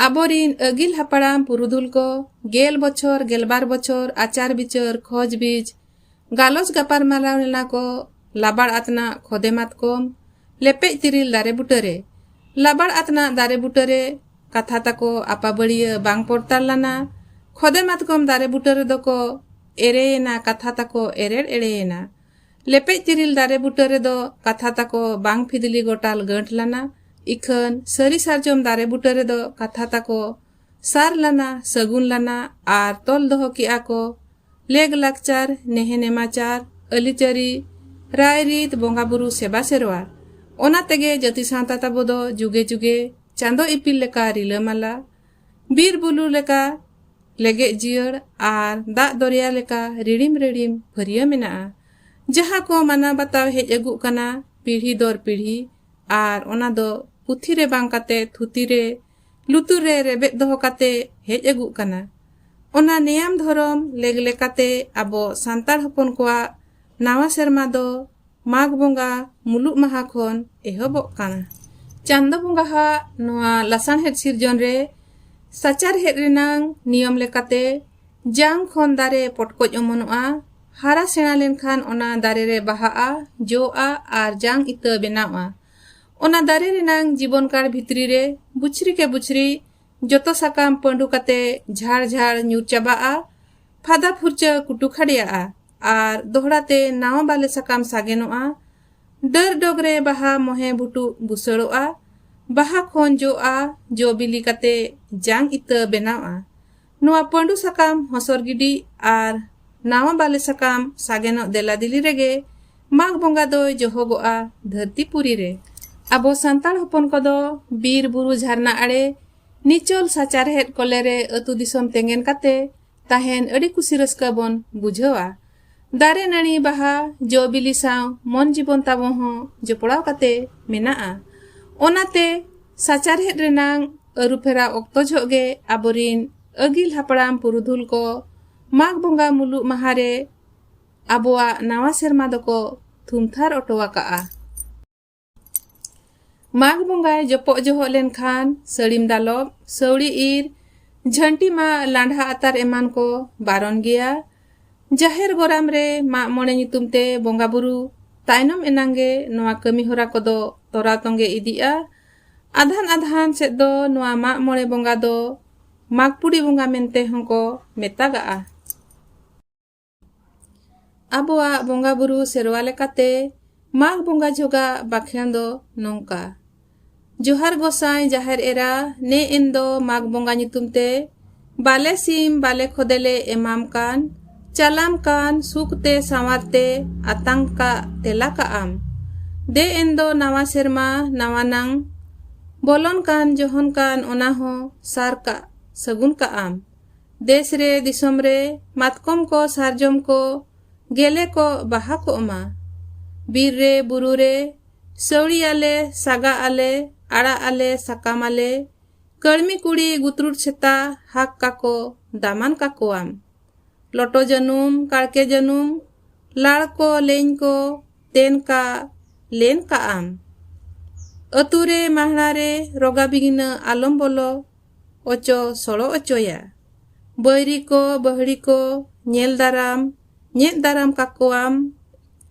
ᱟᱵᱚᱨᱤᱱ ᱟᱹᱜᱤᱞ ᱦᱟᱯᱲᱟᱢ ᱯᱩᱨᱩᱫᱷᱩᱞ ᱠᱚ ᱜᱮᱞ ᱵᱚᱪᱷᱚᱨ ᱜᱮᱞᱵᱟᱨ ᱵᱚᱪᱷᱚᱨ ᱟᱪᱟᱨ ᱵᱤᱪᱟᱹᱨ ᱠᱷᱚᱡᱽ ᱵᱤᱡᱽ ᱜᱟᱞᱚᱪ ᱜᱟᱯᱟᱨ ᱢᱟᱞᱟᱣ ᱞᱮᱱᱟ ᱠᱚ ᱞᱟᱵᱟᱲ ᱟᱛᱱᱟᱜ ᱠᱷᱚᱫᱮ ᱢᱟᱛᱠᱚᱢ ᱞᱮᱯᱮᱡ ᱛᱤᱨᱤᱞ ᱫᱟᱨᱮ ᱵᱩᱴᱟᱹᱨᱮ ᱞᱟᱵᱟᱲ ᱟᱛᱱᱟᱜ ᱫᱟᱨᱮ ᱵᱩᱴᱟᱹᱨᱮ ᱠᱟᱛᱷᱟ ᱛᱟᱠᱚ ᱟᱯᱟᱵᱟᱹᱲᱤᱭᱟᱹ ᱵᱟᱝ ᱯᱚᱨᱛᱟᱲ ᱞᱟᱱᱟ ᱠᱷᱚᱫᱮ ᱢᱟᱛᱠᱚᱢ ᱫᱟᱨᱮ ᱵᱩᱴᱟᱹ ᱨᱮᱫᱚ ᱠᱚ ᱮᱨᱮᱭᱮᱱᱟ ᱠᱟᱛᱷᱟ ᱛᱟᱠᱚ ᱮᱨᱮᱲ ᱮᱲᱮᱭᱮᱱᱟ ᱞᱮᱯᱮᱡ ᱛᱤᱨᱤᱞ ᱫᱟᱨᱮ ᱵᱩᱴᱟᱹ ᱨᱮᱫᱚ ᱠᱟᱛᱷᱟ ᱛᱟᱠᱚ ᱵᱟᱝ ᱯᱷᱤᱫᱤᱞᱤ ᱜᱚᱴᱟᱞ ᱜᱟᱹᱴ ᱞᱟᱱᱟ ᱤᱠᱷᱟᱹᱱ ᱥᱟᱹᱨᱤ ᱥᱟᱨᱡᱚᱢ ᱫᱟᱨᱮ ᱵᱩᱴᱟᱹ ᱨᱮᱫᱚ ᱠᱟᱛᱷᱟ ᱛᱟᱠᱚ ᱥᱟᱨ ᱞᱟᱱᱟ ᱥᱟᱹᱜᱩᱱ ᱞᱟᱱᱟ ᱟᱨ ᱛᱚᱞ ᱫᱚᱦᱚ ᱠᱮᱜᱼᱟ ᱠᱚ ᱞᱮᱜᱽ ᱞᱟᱠᱪᱟᱨ ᱱᱮᱦᱮ ᱱᱮᱢᱟᱪᱟᱨ ᱟᱹᱞᱤᱪᱟᱹᱨᱤ ᱨᱟᱭ ᱨᱤᱛ ᱵᱚᱸᱜᱟ ᱵᱩᱨᱩ ᱥᱮᱵᱟ ᱥᱮᱨᱣᱟ ᱚᱱᱟ ᱛᱮᱜᱮ ᱡᱟᱹᱛᱤ ᱥᱟᱶᱛᱟ ᱛᱟᱵᱚ ᱫᱚ ᱡᱩᱜᱮ ᱡᱩᱜᱮ ᱪᱟᱸᱫᱚ ᱤᱯᱤᱞ ᱞᱮᱠᱟ ᱨᱤᱞᱟᱹᱢᱟᱞᱟ ᱵᱤᱨ ᱵᱩᱞᱩ ᱞᱮᱠᱟ ᱞᱮᱜᱮᱡ ᱡᱤᱭᱟᱹᱲ ᱟᱨ ᱫᱟᱜ ᱫᱚᱨᱭᱟ ᱞᱮᱠᱟ ᱨᱤᱲᱤᱢ ᱨᱤᱲᱤᱢ ᱯᱷᱟᱹᱨᱭᱟᱹ ᱢᱮᱱᱟᱜᱼᱟ ᱡᱟᱦᱟᱸ ᱠᱚ ᱢᱟᱱᱟᱣ ᱵᱟᱛᱟᱣ ᱦᱮᱡ ᱟᱹᱜᱩᱜ ᱠᱟᱱᱟ ᱯᱤᱲᱦᱤ ᱫᱚᱨ ᱯᱤᱲᱦᱤ ᱟᱨ ᱚᱱᱟ ᱫᱚ ᱯᱩᱛᱷᱤ ᱨᱮ ᱵᱟᱝ ᱠᱟᱛᱮ ᱛᱷᱩᱛᱤ ᱨᱮ ᱞᱩᱛᱩᱨ ᱨᱮ ᱨᱮᱵᱮᱫ ᱫᱚᱦᱚ ᱠᱟᱛᱮ ᱦᱮᱡ ᱟᱹᱜᱩᱜ ᱠᱟᱱᱟ ᱚᱱᱟ ᱱᱮᱭᱟᱢ ᱫᱷᱚᱨᱚᱢ ᱞᱮᱜ ᱞᱮᱠᱟᱛᱮ ᱟᱵᱚ ᱥᱟᱱᱛᱟᱲ ᱦᱚᱯᱚᱱ ᱠᱚᱣᱟᱜ ᱱᱟᱣᱟ ᱥᱮᱨᱢᱟ ᱫᱚ ᱢᱟᱜᱽ ᱵᱚᱸᱜᱟ ᱢᱩᱞᱩᱜ ᱢᱟᱦᱟ ᱠᱷᱚᱱ ᱮᱦᱚᱵᱚᱜ ᱠᱟᱱᱟ ᱪᱟᱸᱫᱚ ᱵᱚᱸᱜᱟ ᱦᱟᱜ ᱱᱚᱣᱟ ᱞᱟᱥᱟᱬᱦᱮᱫ ᱥᱤᱨᱡᱚᱱ ᱨᱮ ᱥᱟᱪᱟᱨᱦᱮᱫ ᱨᱮᱱᱟᱝ ᱱᱤᱭᱚᱢ ᱞᱮᱠᱟᱛᱮ ᱡᱟᱝ ᱠᱷᱚᱱ ᱫᱟᱨᱮ ᱯᱚᱴᱠᱚᱡ ᱚᱢᱚᱱᱚᱜᱼᱟ ᱦᱟᱨᱟ ᱥᱮᱬᱟ ᱞᱮᱱᱠᱷᱟᱱ ᱚᱱᱟ ᱫᱟᱨᱮ ᱨᱮ ᱵᱟᱦᱟᱜᱼᱟ ᱡᱚᱜᱼᱟ ᱟᱨ ᱡᱟᱝ ᱤᱛᱟᱹ ᱵᱮᱱᱟᱣᱼᱟ ᱚᱱᱟ ᱫᱟᱨᱮ ᱨᱮᱱᱟᱝ ᱡᱤᱵᱚᱱ ᱠᱟᱲ ᱵᱷᱤᱛᱨᱤ ᱨᱮ ᱵᱩᱪᱷᱨᱤ ᱠᱮ ᱵᱩᱪᱷᱨᱤ ᱡᱚᱛᱚ ᱥᱟᱠᱟᱢ ᱯᱟᱹᱰᱩ ᱠᱟᱛᱮ ᱡᱷᱟᱲ ᱡᱷᱟᱲ ᱧᱩᱨ ᱪᱟᱵᱟᱜᱼᱟ ᱯᱷᱟᱫᱟ ᱯᱷᱩᱨᱪᱟᱹ ᱠᱩᱴᱩ ᱠᱷᱟᱰᱮᱭᱟᱜᱼᱟ ᱟᱨ ᱫᱚᱦᱲᱟ ᱛᱮ ᱱᱟᱣᱟ ᱵᱟᱞᱮ ᱥᱟᱠᱟᱢ ᱥᱟᱜᱮᱱᱚᱜᱼᱟ ᱰᱟᱹᱨ ᱰᱚᱜᱽ ᱨᱮ ᱵᱟᱦᱟ ᱢᱚᱦᱮ ᱵᱷᱩᱴᱩᱜ ᱵᱩᱥᱟᱹᱲᱚᱜᱼᱟ ᱵᱟᱦᱟ ᱠᱷᱚᱱ ᱡᱚᱜᱼᱟ ᱡᱚ ᱵᱤᱞᱤ ᱠᱟᱛᱮ ᱡᱟᱝ ᱤᱛᱟᱹ ᱵᱮᱱᱟᱣᱜᱼᱟ ᱱᱚᱣᱟ ᱯᱟᱺᱰᱩ ᱥᱟᱠᱟᱢ ᱦᱚᱥᱚᱨ ᱜᱤᱰᱤ ᱟᱨ ᱱᱟᱣᱟ ᱵᱟᱞᱮ ᱥᱟᱠᱟᱢ ᱥᱟᱜᱮᱱᱚᱜ ᱫᱮᱞᱟᱫᱤᱞᱤ ᱨᱮᱜᱮ ᱢᱟᱜᱽ ᱵᱚᱸᱜᱟ ᱫᱚᱭ ᱡᱚᱦᱚᱜᱚᱜᱼᱟ ᱫᱷᱟᱹᱨᱛᱤ ᱯᱩᱨᱤ ᱨᱮ᱾ ᱟᱵᱚ ᱥᱟᱱᱛᱟᱲ ᱦᱚᱯᱚᱱ ᱠᱚᱫᱚ ᱵᱤᱨ ᱵᱩᱨᱩ ᱡᱷᱟᱨᱱᱟ ᱟᱲᱮ, ᱱᱤᱪᱚᱞ ᱥᱟᱪᱟᱨᱦᱮᱫ ᱠᱚᱞᱮ ᱨᱮ ᱟᱹᱛᱩ ᱫᱤᱥᱚᱢ ᱛᱮᱸᱜᱮᱱ ᱠᱟᱛᱮ ᱛᱟᱦᱮᱸᱱ ᱟᱹᱰᱤ ᱠᱩᱥᱤ ᱨᱟᱹᱥᱠᱟᱹ ᱵᱚᱱ ᱵᱩᱡᱷᱟᱹᱣᱟ᱾ ᱫᱟᱨᱮ ᱱᱟᱹᱲᱤ ᱵᱟᱦᱟ ᱡᱚ ᱵᱤᱞᱤ ᱥᱟᱶ ᱢᱚᱱ ᱡᱤᱵᱚᱱ ᱛᱟᱵᱚ ᱦᱚᱸ ᱡᱚᱯᱲᱟᱣ ᱠᱟᱛᱮ ᱢᱮᱱᱟᱜᱼᱟ ᱚᱱᱟᱛᱮ ᱥᱟᱪᱟᱨᱦᱮᱫ ᱨᱮᱱᱟᱝ ᱟᱹᱨᱩᱯᱷᱮᱨᱟᱣ ᱚᱠᱛᱚ ᱡᱷᱚᱜ ᱜᱮ ᱟᱵᱚᱨᱤᱱ ᱟᱹᱜᱤᱞ ᱦᱟᱯᱲᱟᱢ ᱯᱩᱨᱩᱫᱷᱩᱞ ᱠᱚ ᱢᱟᱜᱽ ᱵᱚᱸᱜᱟ ᱢᱩᱞᱩᱜ ᱢᱟᱦᱟ ᱨᱮ ᱟᱵᱚᱣᱟᱜ ᱱᱟᱣᱟ ᱥᱮᱨᱢᱟ ᱫᱚᱠᱚ ᱛᱷᱩᱢᱛᱷᱟᱨ ᱚᱴᱚ ᱟᱠᱟᱜᱼᱟ ᱢᱟᱜᱽ ᱵᱚᱸᱜᱟᱭ ᱡᱚᱯᱚᱜ ᱡᱚᱦᱚᱜ ᱞᱮᱱᱠᱷᱟᱱ ᱥᱟᱹᱲᱤᱢ ᱫᱟᱞᱚᱵ ᱥᱟᱹᱣᱲᱤ ᱤᱨ ᱡᱷᱟᱹᱱᱴᱤ ᱢᱟ ᱞᱟᱸᱰᱷᱟ ᱟᱛᱟᱨ ᱮᱢᱟᱱ ᱠᱚ ᱵᱟᱨᱚᱱ ᱜᱮᱭᱟ ᱡᱟᱦᱮᱨ ᱜᱚᱨᱟᱢ ᱨᱮ ᱢᱟᱜ ᱢᱚᱬᱮ ᱧᱩᱛᱩᱢ ᱛᱮ ᱵᱚᱸᱜᱟ ᱵᱩᱨᱩ ᱛᱟᱭᱱᱚᱢ ᱮᱱᱟᱝ ᱜᱮ ᱱᱚᱣᱟ ᱠᱟᱹᱢᱤ ᱦᱚᱨᱟ ᱠᱚᱫᱚ ᱛᱚᱨᱟᱣ ᱛᱚᱸᱜᱮ ᱤᱫᱤᱜᱼᱟ ᱟᱫᱷᱟᱱ ᱟᱫᱷᱟᱱ ᱥᱮᱫ ᱫᱚ ᱱᱚᱣᱟ ᱢᱟᱜ ᱢᱚᱬᱮ ᱵᱚᱸᱜᱟ ᱫᱚ ᱢᱟᱜᱽᱯᱩᱲᱤ ᱵᱚᱸᱜᱟ ᱢᱮᱱᱛᱮ ᱦᱚᱸᱠᱚ ᱢᱮᱛᱟᱜᱟᱜᱼᱟ ᱟᱵᱚᱣᱟᱜ ᱵᱚᱸᱜᱟ ᱵᱩᱨᱩ ᱥᱮᱨᱣᱟ ᱞᱮᱠᱟᱛᱮ ᱢᱟᱜᱽ ᱵᱚᱸᱜᱟ ᱡᱷᱚᱜᱟ ᱵᱟᱠᱷᱮᱬ ᱫᱚ ᱱᱚᱝᱠᱟ ᱡᱚᱦᱟᱨ ᱜᱚᱥᱟᱭ ᱡᱟᱦᱮᱨ ᱮᱨᱟ ᱱᱮ ᱮᱱ ᱫᱚ ᱢᱟᱜᱽ ᱵᱚᱸᱜᱟ ᱧᱩᱛᱩᱢ ᱛᱮ ᱵᱟᱞᱮ ᱥᱤᱢ ᱵᱟᱞᱮ ᱠᱷᱚᱫᱮᱞᱮ ᱮᱢᱟᱢ ᱠᱟᱱ ᱪᱟᱞᱟᱢ ᱠᱟᱱ ᱥᱩᱠ ᱛᱮ ᱥᱟᱶᱟᱨ ᱛᱮ ᱟᱛᱟᱝ ᱠᱟᱜ ᱛᱮᱞᱟ ᱠᱟᱜ ᱟᱢ ᱫᱮ ᱮᱱ ᱫᱚ ᱱᱟᱣᱟ ᱥᱮᱨᱢᱟ ᱱᱟᱣᱟ ᱱᱟᱝ ᱵᱚᱞᱚᱱ ᱠᱟᱱ ᱡᱚᱦᱚᱱ ᱠᱟᱱ ᱚᱱᱟ ᱦᱚᱸ ᱥᱟᱨ ᱠᱟᱜ ᱥᱟᱹᱜᱩᱱ ᱠᱟᱜ ᱟᱢ ᱫᱮᱥ ᱨᱮ ᱫᱤᱥᱚᱢ ᱨᱮ ᱢᱟᱛᱠᱚᱢ ᱠᱚ ᱥᱟᱨᱡᱚᱢ ᱠᱚ ᱜᱮᱞᱮ ᱠᱚ ᱵᱟᱦᱟ ᱠᱚᱜ ᱢᱟ ᱵᱤᱨ ᱨᱮ ᱵᱩᱨᱩ ᱨᱮ ᱥᱟᱹᱣᱲᱤ ᱟᱞᱮ ᱥᱟᱜᱟ ᱟᱞᱮ ᱟᱲᱟᱜ ᱟᱞᱮ ᱥᱟᱠᱟᱢ ᱟᱞᱮ ᱠᱟᱹᱲᱢᱤ ᱠᱩᱲᱤ ᱜᱩᱛᱨᱩᱴ ᱥᱮᱛᱟ ᱦᱟᱠ ᱠᱟᱠᱚ ᱫᱟᱢᱟᱱ ᱠᱟᱠᱚᱣᱟᱢ ᱞᱚᱴᱚ ᱡᱟᱹᱱᱩᱢ ᱠᱟᱲᱠᱮ ᱡᱟᱹᱱᱩᱢ ᱞᱟᱲ ᱠᱚ ᱞᱮᱧ ᱠᱚ ᱛᱮᱱ ᱠᱟ ᱞᱮᱱ ᱠᱟᱜ ᱟᱢ ᱟᱹᱛᱩ ᱨᱮ ᱢᱟᱦᱲᱟ ᱨᱮ ᱨᱚᱜᱟ ᱵᱤᱜᱷᱤᱱᱟᱹ ᱟᱞᱚᱢ ᱵᱚᱞᱚ ᱚᱪᱚ ᱥᱚᱲᱚ ᱚᱪᱚᱭᱟ᱾ ᱵᱟᱹᱭᱨᱤ ᱠᱚ ᱵᱟᱹᱦᱲᱤ ᱠᱚ ᱧᱮᱞ ᱫᱟᱨᱟᱢ ᱧᱮᱫ ᱫᱟᱨᱟᱢ ᱠᱟᱠᱚᱣᱟᱢ᱾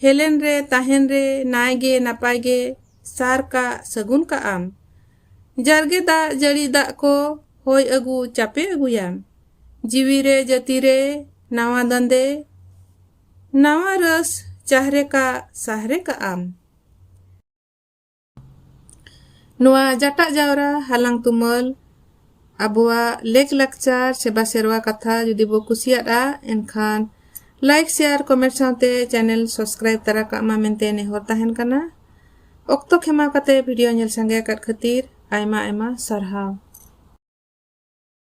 ᱦᱮᱞᱮᱱ ᱨᱮ ᱛᱟᱦᱮᱱ ᱨᱮ ᱱᱟᱭ ᱜᱮ ᱱᱟᱯᱟᱭ ᱜᱮ ᱥᱟᱨ ᱠᱟᱜ ᱥᱟᱹᱜᱩᱱ ᱠᱟᱜᱼᱟᱢ᱾ ᱡᱟᱨᱜᱮ ᱫᱟᱜ ᱡᱟᱹᱲᱤ ᱫᱟᱜ ᱠᱚ ᱦᱚᱭ ᱟᱹᱜᱩ ᱪᱟᱯᱮ ᱟᱹᱜᱩᱭᱟᱢ᱾ ᱡᱤᱣᱤ ᱨᱮ ᱡᱟᱹᱛᱤ ᱨᱮ ᱱᱟᱣᱟ ᱫᱟᱸᱫᱮ ᱱᱟᱣᱟ ᱨᱟᱹᱥ ᱪᱟᱦᱨᱮ ᱠᱟᱜ ᱥᱟᱦᱨᱮ ᱠᱟᱜᱼᱟᱢ᱾ ᱱᱚᱣᱟ ᱡᱟᱴᱟᱜ ᱡᱟᱣᱨᱟ ᱦᱟᱞᱟᱝ ᱛᱩᱢᱟᱹᱞ ᱟᱵᱚᱣᱟᱜ ᱞᱮᱠ ᱞᱟᱠᱪᱟᱨ ᱥᱮᱵᱟ ᱥᱮᱨᱣᱟ ᱠᱟᱛᱷᱟ ᱡᱩᱫᱤ ᱵᱚ ᱠᱩᱥᱤᱭᱟᱫᱼᱟ ᱮᱱᱠᱷᱟᱱ ᱞᱟᱭᱤᱠ ᱥᱮᱭᱟᱨ ᱠᱚᱢᱮᱱᱴ ᱥᱟᱶᱛᱮ ᱪᱮᱱᱮᱞ ᱥᱟᱵᱥᱠᱨᱟᱭᱤᱵ ᱛᱟᱨᱟ ᱠᱟᱜ ᱢᱟ ᱢᱮᱱᱛᱮ ᱱᱮᱦᱚᱨ ᱛᱟᱦᱮᱱ ᱠᱟᱱᱟ ᱚᱠᱛᱚ ᱠᱷᱮᱢᱟᱣ ᱠᱟᱛᱮ ᱵᱷᱤᱰᱤᱭᱳ ᱧᱮᱞ ᱥᱟᱸᱜᱮ ᱟᱠᱟᱫ ᱠᱷᱟᱹᱛᱤᱨ ᱟᱭᱢᱟ ᱟᱭᱢᱟ ᱥᱟᱨᱦᱟᱣ